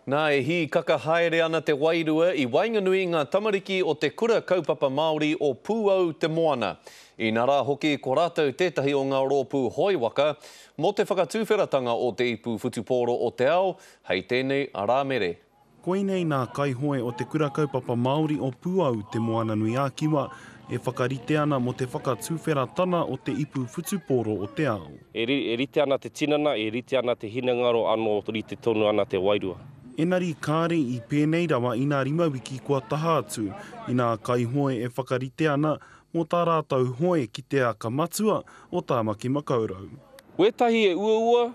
Nā, e hīkaka haere ana te wairua i waenganui i ngā tamariki o te Kura Kaupapa Māori o Pūau Te Moana. Inā rā hoki ko rātou tētahi o ngā rōpū hoe waka mō te whakatuwheratanga o te ipu whutupōro o te ao hei tēnei Rāmere. Koinei nā kaihoe o te Kura Kaupapa Māori o Pūau Te Moananui-a-Kiwa, e whakarite ana mō te whakatuwheratana o te ipu whutupōro o te ao. E rite ana te tinana, e rite ana te hinengaro anō rite tonu ana te wairua. Engari kāre i pēnei rawa ina rima wiki kua taha atu, ina kaihoe e whakarite ana mō tā rātou hoe ki te aka matua o Tāmaki Makaurau. Wētahi e uaua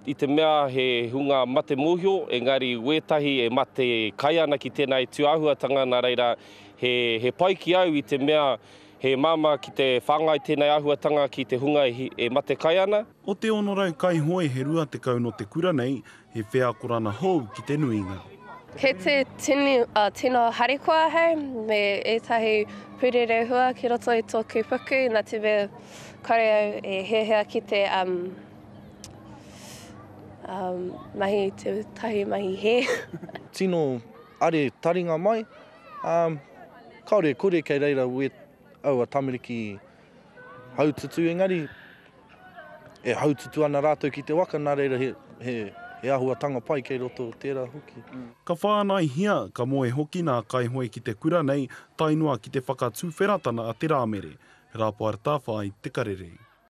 I te mea he hunga mate mōhio, engari wētahi e mate kai ana ki tēnā e tū āhuatanga, nā reira, he, he pai ki au i te mea he māmā ki te whāngai tēnei āhuatanga ki te hunga e, e mate kai ana. O te 600 kaihoe he 20 no te kura nei he wheakorana hou ki te nuinga. Kei te tini, uh, tino harikoa ahau me ētahi pūrerehua ki roto i tōku puku, nā te mea kore au e hiahia ki te, um, Um, mahi te tahi mahi he. Tino are taringa mai. Um, kaore e kore kei reira we aua tamariki haututu engari e haututu ana rātou ki te waka nā reira he, he, he ahuatanga pai kei roto tērā hoki. Mm. Ka whānaihia, ka moe hoki nā kaihoe ki te kura nei tae noa ki te whakatuwheratana a te Rāmere, Rapoarta Whai Te Karere.